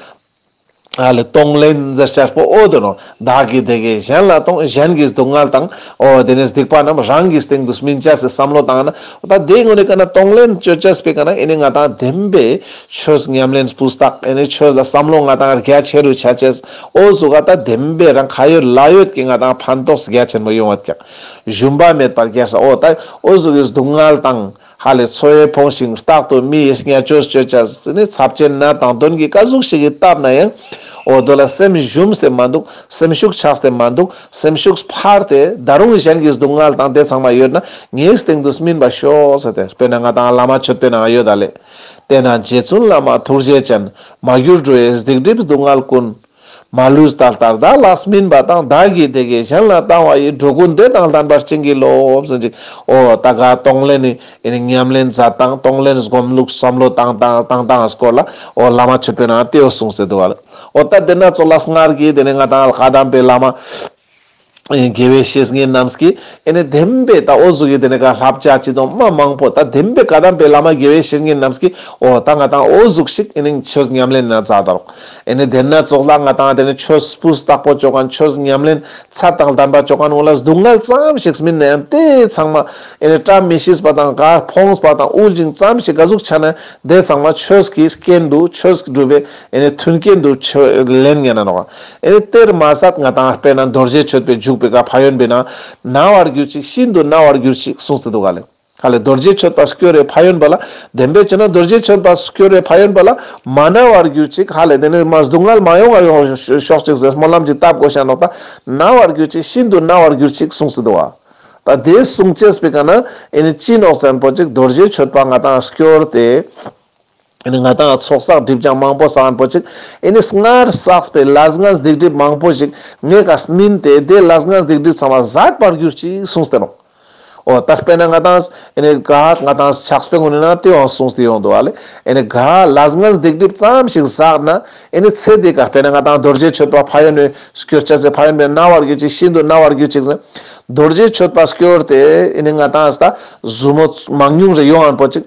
ཨཱ་ལི་གཏོང་ལེན་གྱི་ཕྱིར་སྤོ་བོ་དུ་ནོ། བདག་གིས་དེ་གའི་གཞན་ལ་གཏོང་གཞན་གྱི་སྡུག་བསྔལ་དང། ཨོ་དེ་ནས་སྡིག་པ་རྣམས་རང་གི་སྟེང་དུ་སྨིན་བྱ་སའི་བསམ་བློ་དང་ན། ད་དེའི་སྔོན་ནས་ཀ་ན་གཏོང་ལེན་སྤྱོད་བྱ་སྤེ་ཀ་ན་ཨེ་ནི་ང་དང་ལྡན་པས། ཆོས་ཉམས་ལེན་སྤུ་བཏགས་ཨེ་ནི་ཆོས་ལ་བསམ་བློ་ང་དང་རྒྱ་ཆེ་རུ་བྱ་བྱས། ཨོ་སུ་ཀ་ད་ལྡན་པས་རང་ཁ་ཡོད་ལག་ཡོད་ཀྱི་ང་དང་ཕན་ཐོགས་རྒྱ་ཆེན་པོ་ཡོང་བ་ཀྱང། ཞུམ་པ་མེད་པར་རྒྱལ་ས་ཨོ་ད། ཨོ་སུ་ཀའི་སྡུག་བསྔལ་དང། ཧ་ལས་འཚོ་ཡས་ཕོངས་ཤིང་རྟག་ཏུ་མི་ཡི་སྙད་ཆོས་སྤྱོད་བྱ། ཟི་ནི་ཚབས་ཆེན་ནད་དང་གདོན་གྱི་བཀའ་ཟུག་ཞིག་གིས་བཏབ་ན་ཡང། འོ་དོད་ལ་སེམས་བཞུམ་སྟེ་མ་འདུག་སེམས་ཤུགས་ཆགས་སྟེ་མ་འདུག་སེམས་ཤུགས་འཕར་ཏེ་ད་རུང་གཞན་གྱི་སྡུག་བསྔལ་དང་དེ་ཚང་མ་ཡོད་ན་ངའི་སྟེང་དུ་སྨིན་པ་ཤོག་ཟེར་ཏེ་དཔེར་ན་ང་དང་བླ་མ་མཆོད་དཔོན་ཨ་ཡོད་ད་ལས། དེས་ན་རྗེ་བཙུན་བླ་མ་ཐུགས་རྗེ་ཅན། མ་གྱུར་འགྲོ་བའི་སྡིག་སྒྲིབ་སྡུག་བསྔལ་ཀུན། མ་ལུས་ད་ལྟར་བདག་ལགས་སྨིན་པ་དང་བདག་གིས་དེ་གས་གཞན་ལ་བཏང་བ་ཡིས་འགྲོ་ཀུན་བདེ་དང་ལྷན་པར་བྱིན་གྱིས་རློབས་ཟིན་ཅིག་ཨོ། ད་གའ་གཏོང་ལེན་ནི་ཉམས་ལེན་མཛད་དང་གཏོང་ལེན་སྒོམ་ལུགས་བསམ་བློ་བཏང་དང་བཏང་སྟངས་སྐོར་ལ་ཨོ་བླ་མ་ཆོས་དཔོན་ཨ་ཏིའོ་གསུངས་ཟེར་འདུག་བ་ལ་ཨོ། ད་དེ་ན་ཚོགས་ལ་སྔར་གྱི་དེ་ནས་ང་དང་ལྷ་དམ་པའི་བླ་མ། དགེ་བའི་བཤེས་གཉེན་རྣམས་ཀྱིས་ཨེ་ནས་བདེན་པའི་དྭོགས་གཟུགས་ཀྱི་དེ་ནས་ཀ་ལྷབ་བྱ་ཅི་དང་སྨྲ་མང་པོ་ད་བདེན་པའི་ཀ་དམ་པའི་བླ་མ་དགེ་བའི་བཤེས་གཉེན་རྣམས་ཀྱིས་ཨོ་ད་ང་དང་དྭོགས་གཟུགས་ཤིག་ཨེ་ནིང་ཆོས་ཉམས་ལེན་ན་ཛ་ད་རོག། ཨེ་ནས་བདེན་ན་ཙོག་ལ་ང་དང་དེ་ནས་ཆོས་སྤུ་སྟག་པོ་ཅོ་ག་ན་ཆོས་ཉམས་ལེན་ཚ་དང་དམ་པ་ཅོ་ག་ན་ཨོ་ལ་སྡུག་བསྔལ་ཙམ་ཞིག་སྨིན་ན་ཡང་དེ་ཚང་མ་ཨེ་ནས་བཀྲ་མི་ཤིས་པ་དང་ག་ཕོངས་པ་དང་དབུལ་ཞིང་ཙམ་ཞིག་ཀ་གཟུགས་ཆགས་ན་དེ་ཚང་མ་ཆོས་ཀྱི་རྐྱེན་དུ་ཆོས་སྒྲུབ་པའི་ཨེ་ནི་མཐུན་རྐྱེན་དུ་ཆོས་ལན་ངན་ན་ནོ། ཨེ་ནི་གཏེར་མ་ཟད་ང་དང་སྤེལ་ན་རྡོ་རྗེ་མཆོད་པའི་འཇུག་པའི་ག་བྷ་ཡོན་པས་ན་ན་བར་གྱུར་ཅིག་ཤིན་ཏུ་ན་བར་གྱུར་ཅིག་གསུངས་སྟེ་འདུག་ག་ལས་ཧ་ལས་རྡོ་རྗེ་མཆོད་པ་སྐྱོ་རའི་བྷ་ཡོན་པ་ལ་བདེན་པས་བྱས་ན་རྡོ་རྗེ་མཆོད་པ་སྐྱོ་རའི་བྷ་ཡོན་པ་ལ་མ་ན་བར་གྱུར་ཅིག་ཧ་ལས་དེ་ནས་མ་སྡུག་བསྔལ་མ་ཡོང་བར་ཡོང་ཤོག་ཅིག་ཟེར་སྨོན་ལམ་གྱི་རྟ་བསྒོ་ཞིང་ནོག་དང་ན་བར་གྱུར་ཅིག་ཤིན་ཏུ་ན་བར་གྱུར་ཅིག་གསུངས་སྟེ་འདུག་ག་ད་དེའི་གསུང་བཅས་པའི་ག་ན་ཨེ་ནི་ཅི་ནོག་ཟན་པོ་ཅིག་རྡོ་རྗེ་མཆོད་པ་ང་དང་སྐྱོ་ར་དེ། ཨེ་ནི་ང་དང་ཚོགས་བསགས་སྒྲིབ་ཀྱང་མང་པོ་བསགས་བོན་པོ་ཅིག། ཨེ་ནི་སྔར་བསགས་པའི་ལ་སྔགས་སྡིག་སྒྲིབ་མང་པོ་ཞིག། ངས་ཀ་སྨིན་དེས་དེའི་ལ་སྔགས་སྡིག་སྒྲིབ་ཚང་མ་བཟད་པར་གྱུར་ཅིག་གསུངས་སྟེ་ནོ། འོ་ད་དཔེར་ན་ང་དང། ཨེ་ནི་ག་ང་དང་ཆགས་པའི་སྔོན་ནས་ན་དེའང་གསུངས་སྟེ་ཡོང་འདུག་བ་ལས། ཨེ་ནི་ག་ལ་སྔགས་སྡིག་སྒྲིབ་ཙམ་ཞིག་བསགས་ན། ཨེ་ནི་ཚེ་འདི་ག་དཔེར་ན་ང་དང་རྡོ་རྗེ་མཆོད་པ་ཕ་ཡོན་ནོས་སྐྱོར་བྱས་ཚེ་ཕ་ཡོན་པས་མནར་བར་གྱུར་ཅིག་ཤིན་ཏུ་མནར་བར་གྱུར་ཅིག་གསུངས། རྡོ་རྗེ་མཆོད་པ་སྐྱོར་ཏེ་ཨེ་ནི་ང་དང། བཟོ་མོ་མང་ཉུང་རེ་ཡོང་བོན་པོ་ཅིག།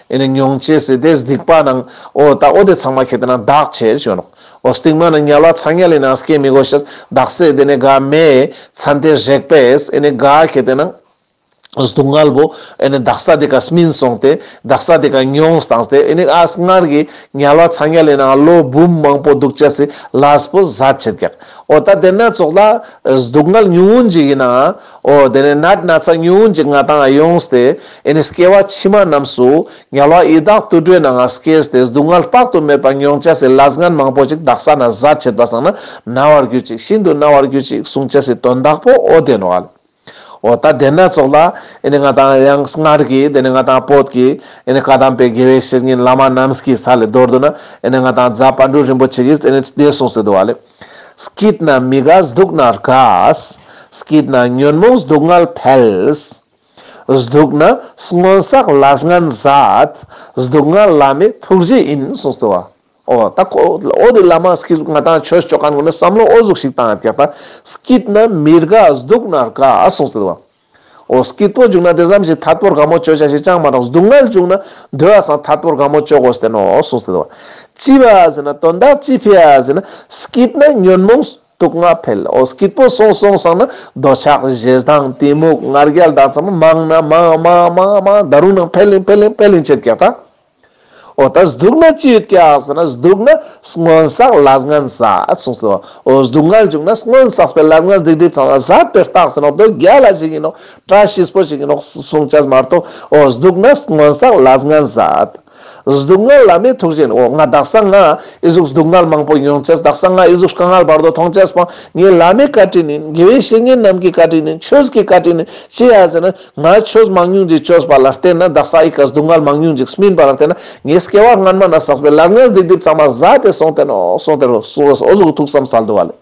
ཨེ་ནི་མྱོང་བྱེད་སྲིད་དེ་སྡིག་པ་ནང་ཨོ་ད་ཨོ་དེ་ཚང་མ་ཁེ་དེ་ན་བདག་བྱེད་བྱོན་རོག་ཨོ་སྟིག་མ་ནི་ཉལ་བ་ཚ་ཉལ་ཡིན་ན་སྐད་མི་གོ་ཤེས་བདག་སྲིད་དེ་ནི་དགའ་མེད་མཚན་དེ་རེག་པས་ཨེ་ནི་དགའ་ཁེ་དེ་ནང་སྡུག་བསྔལ་བོ་ཨེ་ནི་བདག་ས་དེ་ག་སྨིན་སོང་སྟེ་བདག་ས་དེ་ག་མྱོང་སྟངས་སྟེ་ཨེ་ནི་ཨ་སྔར་གྱི་ཉལ་བ་ཚ་ཉལ་ཡིན་ན་ལོ་འབུམ་མང་པོ་སྡུག་བྱེད་སྲིད་ལ་སྤུ་ཟ་བྱེད་རྒྱག་ཨོ་ད་དེ་ན་ཙོག་ལ་སྡུག་བསྔལ་ཉུང་ངུ་འཇིག་ཡིན་ན་ཨོ་དེ་ནས་ནད་སྣ་ཚ་ཉུང་གཅིག་ང་དང་ཡོང་སྟེ་ཨེ་ནི་སྐྱེ་བ་ཕྱི་མ་རྣམས་སུ་ཉལ་བ་ཡི་དྭགས་དུར་ཁྲོད་ན་ང་སྐྱེས་སྟེ་སྡུག་བསྔལ་དཔག་ཏུ་མེད་པ་མྱོང་བྱ་སྲིད་ལ་སྔན་མང་པོ་ཅིག་བདག་ས་ན་བཟའ་བྱེད་པ་སངས་ན་ན་བར་གྱུར་ཅིག་ཤིན་ཏུ་ན་བར་གྱུར་ཅིག་གསུང་བྱ་སྲིད་དོ་བདག་པོ་ཨོ་དེ་ནོ་ཨལ། ཨོ་ད་དེ་ནད་ཚོགས་ལ་ཨེ་ནི་ང་དང་ཡང་སྔར་གྱི་དེ་ནི་ང་དང་བོད་ཀྱི་ཨེ་ནི་བཀའ་གདམས་པའི་དགེ་བའི་བཤེས་གཉེན་བླ་མ་རྣམས་ཀྱི་ས་ལས་རྡོར་དུ་ན་ཨེ་ནི་ང་དང་རྫ་དཔལ་སྤྲུལ་རིན་པོ་ཆེ་གིས་ཨེ་ནི་དེ་གསུངས་སྲིད་དོ་ཨལ། སྐྱིད་ན་མི་དགའ་སྡུག་ན་དགའ། སྐྱིད་ན་ཉོན་མོངས་སྡུག་བསྔལ་འཕེལ། སྡུག་ན་སྔོན་བསགས་ལ་སྔན་བཟའད། སྡུག་བསྔལ་བླ་མེད་ཐུགས་རྗེ་ཡིན་གསུངས་སོ། ཨོ། ད་ཁོ་བོ་དེ་བླ་མ་སྐྱིད་གཟུགས་ང་དང་ཁྱོད་ཕྱོགས་གང་ནས་ངུ་ནས་བསམ་བློ་ཨོ་གཟུགས་ཤིག་བཏང་ཡང་དེ་ལྟར། སྐྱིད་ན་མི་དགའ་སྡུག་ན་དགའ་གསུངས་སོ། ཨོ་སྐྱིད་པོ་བྱུང་ན་དེ་ཙམ་ཞིག་ཐར་པོར་དགའ་མོ་སྤྱོད་བྱ་ཞེས་ཅང་མ་རྟོགས་སྡུག་བསྔལ་བྱུང་ན་འདོད་ཨ་སང་ཐར་པོར་དགའ་མོ་སྤྱོད་དགོས་བསྟན་ནོ་གསུངས་ཟེར་བ། ཅི་བ་ཟེར་ན་དོན་དག་ཅི་འཕེལ་ཨ་ཟེར་ན་སྐྱིད་ན་ཉོན་མོངས་དུག་ལྔ་འཕེལ་ཨོ་སྐྱིད་པོ་སོང་སོང་སང་ན་འདོད་ཆགས་བཞེ་སྡང་གཏི་མུག་ངར་རྒྱལ་ལྡག་ཙམ་མང་ན་མང་མང་མང་མང་ད་རུང་ནང་འཕེལ་ལིང་འཕེལ་ལིང་འཕེལ་ལིང་ཆེར་རྒྱག་ད། འོ་ད་སྡུག་ན་ཅི་ཡོད་ཀྱི་ཟེར་ན་སྡུག་ན་སྔོན་བསགས་ལ་སྔོན་བསགས་གསུངས་སོ། འོ་སྡུག་བསྔལ་བྱུང་ན་སྔོན་བསགས་པའི་ལ་སྔོན་སྡིག་སྒྲིབ་ཚང་བ་ཟད་པའི་རྟགས་ཟེར་ན་དོལ་རྒྱལ་ལ་ཞིག་ཡིན་ནོ། བཀྲ་ཤིས་པོ་ཞིག་ཡིན་ནོ་གསུངས་བྱས་མ་གཏོགས་འོ་སྡུག་ན་སྔོན་བསགས་ལ་སྔོན་བསགས། སྡུག་བསྔལ་ལ་མི་ཐུག་བཞིན་འོ་ང་བདག་གསང་སྔགས་ཨི་གཟུགས་སྡུག་བསྔལ་མང་པོ་མྱོང་བྱས་བདག་གསང་སྔགས་ཨི་གཟུགས་དཀའ་ངལ་བར་དོ་མཐོང་བྱས་པ་ངའི་བླ་མའི་བཀའ་དྲིན་ཡིན་དགེ་བའི་བཤེས་གཉེན་རྣམས་ཀྱི་བཀའ་དྲིན་ཡིན་ཆོས་ཀྱི་བཀའ་དྲིན་ཡིན་ཅི་ཡ་ཟེར་ན། ང་ཁྱོད་མང་ཉུང་འདི་ཅོས་པ་ལ་བརྟེན་ན་བདག་ས་ཡི་ཀ་སྡུག་བསྔལ་མང་ཉུང་འཇིགས་སྨིན་པ་ལ་བརྟེན་ན་ངའི་སྐྱེ་བ་སྔ་མ་ན་བསགས་པའི་ལར་ངན་སྡིག་སྒྲིབ་གཙང་མ་བཟའ་སྟེ་སོང་སྟེ་ནོ་སོང་སྟེ་རོ་སོང་སྟེ་ཨོ་གཟུགས་ཐུགས་བསམ་སལ་འདུ་བ་ལས།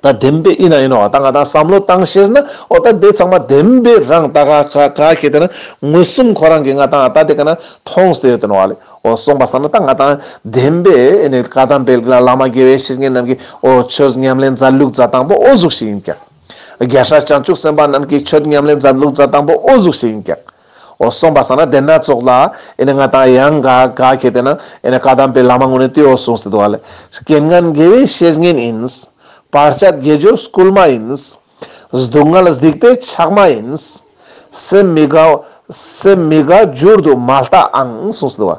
ད་བདེན་པས་ཨི་ན་ཨི་ནོ་བ་ད་ང་ད་བསམ་བློ་བཏང་ཤེས་ན་ཨོ་ད་དེ་ཚང་མ་བདེན་པས་རང་ད་ག་ག་ག་གི་དེ་ན་མངོན་སུམ་ཁོ་རང་གི་ང་ད་ང་ད་དེ་ག་ན་མཐོང་སྟེ་ཡོད་དེ་ནོ་བ་ལས་ཨོ་སོང་པ་ས་ན་ད་ང་ད་བདེན་པས་ཨེ་ནི་ཀ་དམ་པའི་བླ་མ་དགེ་བའི་བཤེས་གཉེན་རྣམས་ཀྱིས་ཨོ་ཁྱོད་ཉམས་ལེན་མཛའ་ལུགས་མཛའ་དང་པོ་ཨོ་གཟུགས་ཤིག་ཡིན་ཀྱང། རྒྱལ་སྲས་བྱང་ཆུབ་སེམས་དཔའ་རྣམས་ཀྱིས་ཆོས་ཉམས་ལེན་མཛད་ལུགས་མཛད་དང་པོ་ཨོ་གཟུགས་ཞིག་ཡིན་ཀྱང། ཨོ་གསུངས་པ་ས་ན་དེ་སྣ་ཚོགས་ལ། ཨེ་ནི་ང་དང་ཡང་འགའ་འགའ་ཁྱེད་དེ་ན། ཨེ་ནི་བཀའ་གདམས་པའི་ལམ་དངོས་ནི་དེའོ་གསུངས་ཟེར་དུ་བ་ལས། རྐྱེན་ངན་དགེ་བའི་བཤེས་གཉེན་ཡིན། བར་ཆད་དགེ་སྦྱོར་སྐུལ་མ་ཡིན། སྡུག་བསྔལ་གཟིགས་པའི་ཕྱགས་མ་ཡིན། སེམས་མི་དགའ། སེམས་མི་དགའ་བསྒྱུར་དུ་མ་ལྟ་ཨང་གསུངས་སོ།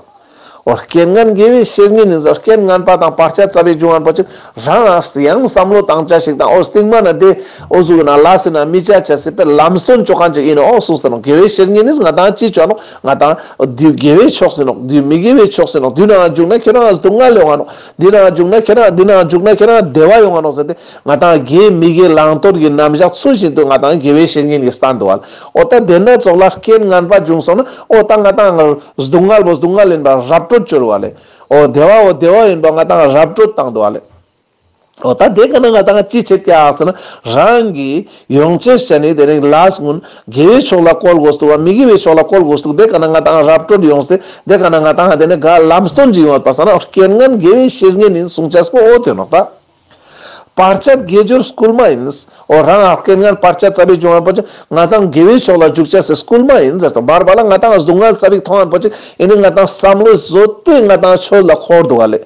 རྐྱེན་ངན་དགེ་བའི་བཤེས་གཉེན་ནི་རྐྱེན་ངན་པ་དང་བར་ཆད་རྩ་བའི་འབྱུང་བ་འབའ་ཞིག་རང་ཨ་སི་ཡང་བསམ་བློ་བཏང་བྱ་ཞིག་དང་ཨོ་སྟིང་མ་ན་དེ་ཨོ་གཟུགས་ན་ལ་སི་ན་མི་བྱ་བྱ་སྲིད་པའི་ལམ་སྟོན་བཅོ་གང་ཅིག་ཡིན་ནོ་གསུངས་སོ་དགེ་བའི་བཤེས་གཉེན་ནི་ང་དང་ཅི་བྱ་ནོ་ང་དང་དུས་དགེ་བའི་ཕྱོགས་ཟིན་ནོ་དུས་མི་དགེ་བའི་ཕྱོགས་ཟིན་ནོ་དུས་ནའང་འཇུག་ན་ཁྱེད་རང་ཨ་སི་དུ་མངལ་ཡོང་བ་ནོ་འདི་ནའང་འཇུག་ན་ཁྱེད་རང་འདི་ནའང་འཇུག་ན་ཁྱེད་རང་བདེ་བ་ཡོང་བ་ནོ་ཟེར་ཏེ་ང་དང་རྒན་མི་དགེ་བླང་དོར་གྱི་རྣམ་གཞག་ཚུལ་བཞིན་དུ་ང་དང་དགེ་བའི་བཤེས་གཉེན་གྱི་ལྟ་འདོད་ལ་ཨོ་ལྟ་དེ་འདྲ་སྩོགས་ལ་རྐྱེན་ངན་པ་འབྱུང་སོང་ན་ཨོ་ལྟ་ང་དང་སྡུག་བསྔལ་བོ་སྡུག་བསྔལ་ཡིན་པ་རབ་སྤྲོད་བཅོལ་བ་ལས་ཨོ་བདེ་བ་བོ་བདེ་བ་ཡིན་པ་ང་དང་རབ་སྤྲོད་བཏང་འདོད་བ་ལས། ཨོ་ལྟ་དེ་ག་ན་ང་དང་ཅི་བྱེད་བལྟ་ཟེར་ན་རང་གིས་ཡོངས་ཅེར་བྱས་ནས་དེ་རིང་ལགས་སྔོན་དགེ་བའི་ཕྱོགས་ལ་བཀོལ་དགོས་འདུག་བ་མི་དགེ་བའི་ཕྱོགས་ལ་བཀོལ་དགོས་འདུག་དེ་ག་ན་ང་དང་རབ་སྤྲོད་ཡོང་སྲིད་དེ་ག་ན་ང་དང་དེ་ནས་དགའ་ལམ་སྟོན་གྱི་ཡོང་བ་བལྟ་ཟེར་ན་རྐྱེན་ངན་དགེ་བའི་བཤེས་གཉེན་ཡིན་གསུང་བྱས་པོ་ཨོ་དེ་ནོག་ལྟ། བར་ཆད་དགེ་སྦྱོར་སྐུལ་མ་ཡིན། འོ་རང་ཨ་སྐལ་ངར་བར་ཆད་རྩ་བའི་འབྱུང་བ་པོ་ཆེ། ང་དང་དགེ་བའི་ཕྱོགས་ལ་འཇུག་བྱ་སྲིད་སྐུལ་མ་ཡིན། ཟེར་དང་བར་བར་ལ་ང་དང་གཟུགས་མངལ་རྩ་བའི་མཐོང་བ་པོ་ཆེ། ཡིན་ནི་ང་དང་བསམ་བློའི་བཟོ་ལྟས་ང་དང་ཁྱོད་ལ་འཁོར་འདུག་ཨ་ལས།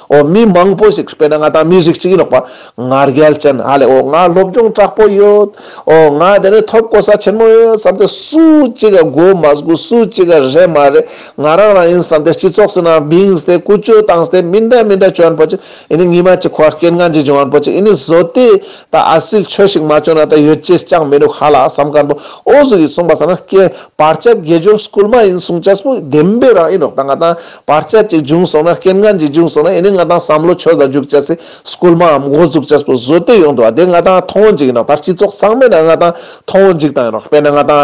འོ་མི་མང་པོ་ཞིག་དཔེར་ན་ང་དང་མི་རིགས་གཅིག་ཡིན་རོགས་པ། ང་རྒྱལ་ཅན་ཨ་ལས་འོ་ང་སློབ་སྦྱོང་དྲག་པོ་ཡོད། འོ་ང་དེ་ནས་ཐོབ་གོ་ས་ཆེན་མོ་ཡོད་བསམ་སྟེ་སུ་གཅིག་དགོ་མ་དགོ་སུ་གཅིག་རེད་མ་རེད་ང་རང་རང་ཡིན་བསམ་སྟེ་སྤྱི་ཚོགས་སུ་ན་བིངས་ཏེ་ཀུ་ཅོ་བཏང་སྟེ་མི་འདྲ་མི་འདྲ་སྐྱོན་པོ་ཆེ། ཨེ་ནི་ཉི་མ་གཅིག་ཁོ་ཨ་སྐད་ངན་གྱིས་སྦྱོང་བར་པོ་ཅི་ཨེ་ནི་བཟོ་དེས་ད་ཨ་སིལ་ཆོས་ཤིག་མ་བྱུང་ན་ད་ཡོད་ཅེས་ཅང་མི་འགྲུག་ཧ་ལ་བསམ་དཀར་པོ་ཨོ་གཟུགས་ཡིས་གསུངས་པ་ཟ་ན་སྐད་བར་ཆད་དགེ་སྦྱོར་སྐུལ་མ་ཡིན་གསུངས་ཆ་སྤུ་ལྡེམ་པའི་རང་ཨེ་རོགས་ད་ང་དང་བར་ཆད་ཅིག་འབྱུང་སོང་ན་སྐད་ངན་གྱིས་འབྱུང་སོང་ན་ཨེ་ནི་ང་དང་བསམ་བློ་ཆོས་དང་འཇུག་ཆ་སི་སྐུལ་མ་འམ་ཨོ་གཟུགས་ཆ་སྤུ་བཟོ་དེས་ཡོང་དུ་བ་དེ་ང་དང་མཐོང་འཇིག་ཡིན་རོགས་ད་སྤྱི་ཚོགས་ཚང་མས་ན་ང་དང་མཐོང་འཇིག་དང་ཡིན་རོགས་དཔེར་ན་ང་དང།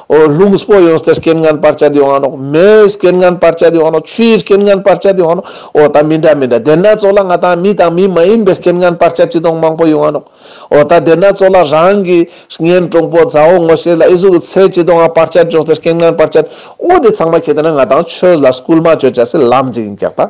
ཨོ་ལྷུང་སྤོ་ཡོང་སྟེ་རྐྱེན་ངན་སྤར་བྱ་དེ་ཡོང་ནོ། མེའི་རྐྱེན་ངན་སྤར་བྱ་དེ་ཡོང་ནོ། ཆུའི་རྐྱེན་ངན་སྤར་བྱ་དེ་ཡོང་ནོ། ཨོ་ད་མི་འདྲ་མི་འདྲ་དེ་ན་ཚོ་ལ་ང་དང་མི་དང་མི་མ་ཡིན་པའི་རྐྱེན་ངན་སྤར་བྱ་ཅི་དོང་མང་པོ་ཡོང་ནོ། ཨོ་ད་དེ་ན་ཚོ་ལ་རང་གི་གཉེན་གྲོང་པོ་མཛའ་བོ་ངོ་ཤེས་ལ་ཨེ་གཟུགས་ཀྱི་ཚད་ཅི་དོང་ཨ་སྤར་བྱ་འཇོག་སྟེ་རྐྱེན་ངན་སྤར་བྱ། ཨོ་དེ་ཚང་མ་ཁྱེད་དེ་ན་ང་དང་ཆོས་ལ་སྐུལ་མ་བྱོས་བྱ་སེ་ལམ་འཇིག་འཇགས་དང།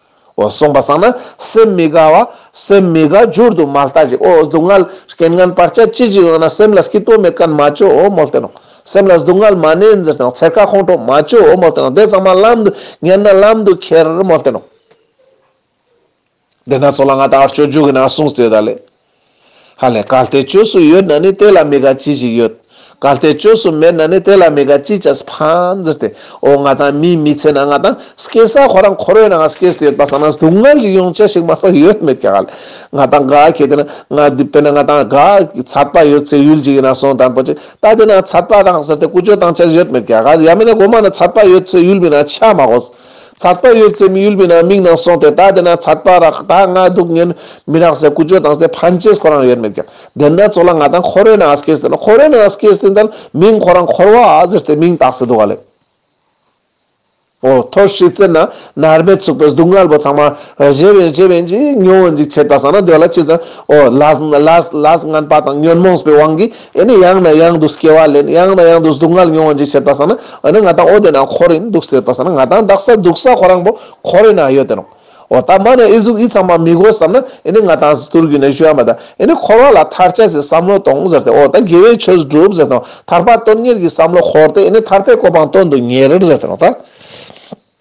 གསུངས་པ་བསམ་ན་སེམས་མི་དགའ་བ། སེམས་མི་དགའ་རྒྱུར་དུ་མ་ལྟ་ཞིག་ཨོ་སྡུག་བསྔལ་རྐྱེན་ངན་པར་བཅས་ཅི་ཞིག་ཡོད་ན་སེམས་ལ་སྐྱིད་སྟོབས་མེད་ཀན་མ་བཅོས་འོ་མོ་སྟེ་ནོ། སེམས་ལ་སྡུག་བསྔལ་མ་གནས་འཛིན་སྟེ་ནོ་འཚེར་ཁ་ཁོང་ཁྲོ་མ་བཅོས་འོ་མོ་སྟེ་ནོ་དེ་ཚང་མ་བརླམ་དུ་ཉན་ན་བརླམ་དུ་ཁྱེར་མོ་སྟེ་ནོ། དེས་ན་ཚོགས་ལ་ང་ད་བར་སྤྱོད་འཇུག་གི་ནང་གསུངས་ཚུལ་དག་ལས། ཧ་ལས་གར་སྟེགས་བཅོས་སུ་ཡོད་ན་ནི་དེ་ལ་མི་དགའ་ཅི་ཞིག་ཡོད། གར་སྟེགས་བཅོས་སུ་མེད་ན་ནི་དེ་ལ་མི་དགའ་ཅི་ཅི་སྤ་འཛིར་ཏེ་ཨོ་ང་དང་མིའི་མི་ཚེ་ན་ང་དང་སྐྱེས་ས་ཁོ་རང་ཁོ་རོའི་ནང་སྐྱེས་ཏེ་ཡོད་པ་ས་ན་སྡུག་བསྔལ་ཞིག་ཡོང་ཆ་ཞིག་མ་གཏོགས་ཡོད་མེད་ཀྱང་ཧ་ལས་ང་དང་དགའ་ཁྱེད་དེ་ན་ང་བསྡུས་པས་ན་ང་དང་དགའ་ཁྱེད་ཚར་པ་ཡོད་ཚེ་ཡུལ་གཅིག་ཡིན་ན་སོང་དང་པོ་ཅིག་ལྟ་དེ་ན་ཚར་པ་རང་ཟེར་ཏེ་ཀུ་ཅོ་དང་བཅས་ཡོད་མེད་ཀྱང་ཧ་ལས་ཡང་མིན་ན་དགོང་མ་ན་ཚར་པ་ཡོད་ཚེ་ཡུལ་མིན་ན་ཆ་མ་གོ་ཟེར། ཚགས་པར་ཡོད་ཚད་མི་ཡུལ་མི་ནང་མིག་ནང་སོང་སྟེ་ད་དེ་ན་ཚགས་པར་རག་ད་ང་སྡུག་བསྔལ་མི་རག་ཟེར་ཀུ་ཅོ་དང་ཟེར་ཕན་ཆད་ཁོ་རང་ཡོད་མེད་ཀྱང་དེ་འདྲ་ཚོ་ལ་ང་དང་ཁོ་རོའི་ནང་སྐྱེས་ཟེར་ན་ཁོ་རོའི་ནང་སྐྱེས་ཟིན་ད་མིང་ཁོ་རང་འཁོར་བ་ཟེར་ཏེ་མིང་བཏགས་སྲིད་འདུག་ག་ལེ། ཨོ་ཐོར་ཤི་ཚེ་ན་ནར་མེ་ཚུགས་པའི་སྡུག་བསྔལ་བོ་ཚང་མ་རེ་ཞེ་བན་ཞེ་བན་གྱིས་མྱོང་འཇིག་བྱེད་ད་ས་ན་སྡོད་ལ་ཅི་ཙམ་ཨོ་ལཱས་ངན་པ་དང་ཉོན་མོངས་པའི་དབང་གིས་ཨེ་ནི་ཡང་ནས་ཡང་དུ་སྐྱེ་བ་ལེན་ཡང་ནས་ཡང་དུ་སྡུག་བསྔལ་མྱོང་བ་འཇིགས་བྱེད་པ་ས་ན་ཨོ་ན་ང་དང་ཨོ་དེ་ན་འཁོར་ཡིན་འདུག་ཟེར་པ་ས་ན་ང་དང་བདག་ས་སྡུག་ས་ཁོ་རང་པོ་འཁོར་ཡིན་ཨ་ཡོད་དེ་རང་ཨོ་ད་མ་ནས་ཨི་གཟུགས་ཨི་ཚང་མ་མི་དགོས་བསམ་ན་ཨེ་ནི་ང་དང་གཟི་དུར་རྒྱུད་ནས་བཞུད་ཨ་མ་ད་ཨེ་ནི་འཁོར་བ་ལ་མཐར་བྱས་སའི་བསམ་བློ་གཏོང་ཟེར་ཏེ་ཨོ་ད་དགེ་བའི་ཆོས་བསྒྲུབ་ཟེར་དང་ཐར་པ་སྟོན་ཉེར་གྱི་བསམ་བློ་འཁོར་ཏེ་ཨེ་ནི་ཐར་པའི་གོ་འཕང་སྟོན་དུ་ཉེར་ཟེར་ཏེ་རང་ད།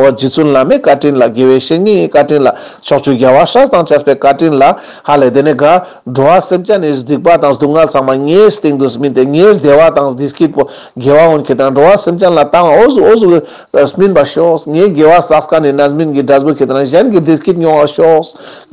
ཨོ་རྒྱུ་བཙུན་བླ་མའི་བཀའ་དྲིན་ལ་དགེ་བའི་བཤེས་གཉེན་བཀའ་དྲིན་ལ་ཕྱོགས་བཅུའི་རྒྱལ་བ་ཤྲཱི་དང་བཅས་པའི་བཀའ་དྲིན་ལ་ཧ་ལས་དེ་ནས་དགའ། འགྲོ་བ་སེམས་ཅན་ནི་སྡིག་པ་དང་སྡུག་བསྔལ་ཚང་མ་ངའི་སྟེང་དུ་སྨིན་ཏེ་ངའི་བདེ་བ་དང་སྡིག་སྐྱིད་པོ་དགེ་བ་འོན་ཁྱེད་དང་འགྲོ་བ་སེམས་ཅན་ལ་བཏང་བ་འོ་ཟུག་འོ་ཟུག་སྨིན་པར་ཤོག་ངའི་དགེ་བ་སགས་ཀ་ནི་ན་སྨིན་གྱི་སྒྲ་སྦུད་ཁྱེད་དང་གཞན་གྱི་བདེ་སྐྱིད་མྱོང་བར་ཤོག།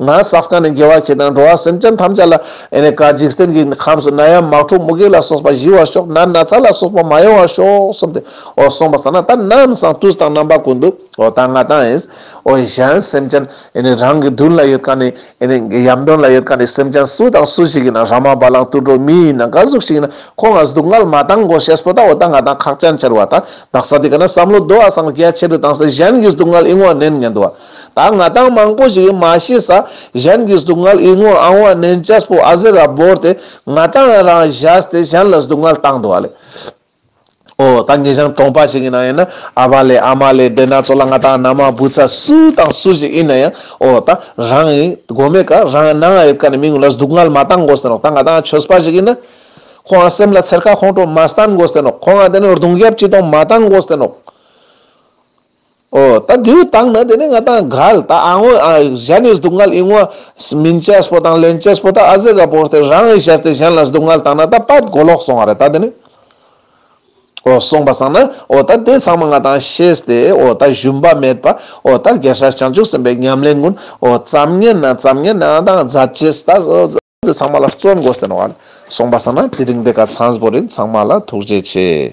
ང་སགས་ཀ་ནི་དགེ་བ་ཁྱེད་དང་འགྲོ་བ་སེམས་ཅན་ཐམས་ཅད་ལ་ཨེ་ནས་ཀ་འཇིག་རྟེན་གྱི་ཁམས་སུ་ན་ཡ་མཱག་ཁྲོ་མུ་གེ་ལ་སོགས་པ་ཞི་བར་ཤོག་ན་ན་ཚ་ལ་སོགས་པ་མ་ཡོང་བར་ཤོག་གསུམ་སྟེ། ཨོ་གསུངས་པ་ས་ན་ད་རྣམས་སང་དུས་དང་རྣམ་པ་ཀུན་ཏུ་ཨོ་ད་ང་དང་ཨིནཨོ་གཞན་སེམས་ཅན་ཨིནི་རང་གི་དོན་ལ་ཡོད་ཀ་ནི་ཨིནི་ཡམ་དོན་ལ་ཡོད་ཀ་ནི་སེམས་ཅན་སུ་དང་སུ་ཞིག་ཡིན་ན་ར་མ་བ་ལང་ཏུ་འགྲོ་མི་ཡིན་ན་ག་གཟུགས་ཤིག་ཡིན་ན་ཁོ་ང་སྡུག་བསྔལ་མ་དང་གོ་ཤེས་པོ་ད་ཨོ་ད་ང་དང་ཁག་ཅན་ཕྱིར་བ་ད་བདག་ས་དེ་ག་ན་བསམ་བློ་བདོ་བ་སང་རྒྱ་ཆེ་རུ་དང་ས་གཞན་གི་སྡུག་བསྔལ་ཨི་ངོ་ནན་ཉན་དུ་བ་ད་ང་དང་མང་པོ་ཞིག་གི་མ་ཤི་ས་གཞན་གི་སྡུག་བསྔལ་ཨི་ངོ་ཨང་བ་ནན་ཅེས་པོ་ཨ་ཟེ་ར་བོར་ཏེ་ང་དང་ཨེ་རང་བཞག་སྟེ་གཞན་ལ་སྡུག་བསྔལ་བཏང་དུ་བ་ལས། ཨོ། ད་ངེད་ཞང་གྲོང་པ་ཞིག་ཡིན་ན་ཡང་ན་ཨ་ཕ་ལས་ཨ་མ་ལས་བདེན་ན་ཚོ་ལ་ང་དང་ན་མ་བུ་ཚ་སུ་དང་སུ་ཞིག་ཡིན་ན་ཡང་ཨོ། ད་རང་ཡིན་དགོས་མེད་ཀ་རང་ཡང་ན་ང་ཡོད་ཀ་ནས་མི་ངུ་ལ་སྡུག་བསྔལ་མ་བཏང་དགོས་ཟེར་རོགས་ད་ང་དང་ཆོས་པ་ཞིག་ཡིན་ན། ཁོ་འང་སེམས་ལ་འཚེར་ཁ་ཁོང་ཁྲོ་མ་བསྟན་དགོས་ཟེར་རོགས་ཁོ་འང་དེ་ནས་རྡུང་རྒྱབ་ཅི་གཏོང་མ་བཏང་དགོས་ཟེར་རོགས། ཨོ། ད་དེའུ་བཏང་ན་དེ་ནས་ང་དང་གལ། ད་ཨང་ཨོ་ཨང་གཞན་ནས་སྡུག་བསྔལ་ཨིང་ཨོ། མིན་ཅེ་སྤོ་དང་ལེན་ཅེ་སྤོ་ད་ཨ་ཟེ་ག་པོ་སྟེ་རང་ཨེ་བྱས་ཏེ་གཞན་ལ་སྡུག་བསྔལ་བཏང་ན་ད་པད་གོ་ལོག་སོང་བ་རེད་ད་དེ་ནས། ཨོ་སོང་པ་སང་ན་ཨོ་ད་དེ་ཚང་མ་ང་དང་ཤེས་ཏེ་ཨོ་ད་ཞུམ་པ་མེད་པ་ཨོ་ད་རྒྱལ་སྲས་བྱང་ཆུབ་སེམས་པའི་ཉམས་ལེན་ཀུན་ཨོ་བརྩམ་ཉན་ན་བརྩམ་ཉན་ན་ཨང་དང་རྫ་ཅེ་སི་ད་ཨོ། དེ་ཚང་མ་ལ་བརྩོན་དགོས་སྟེ་ནོ་ཨོ། སོང་པ་སང་ན་དེ་རིང་འདི་ག་ཚངས་པོ་རིན་ཚང་མ་ལ་ཐུགས་རྗེ་ཆེ།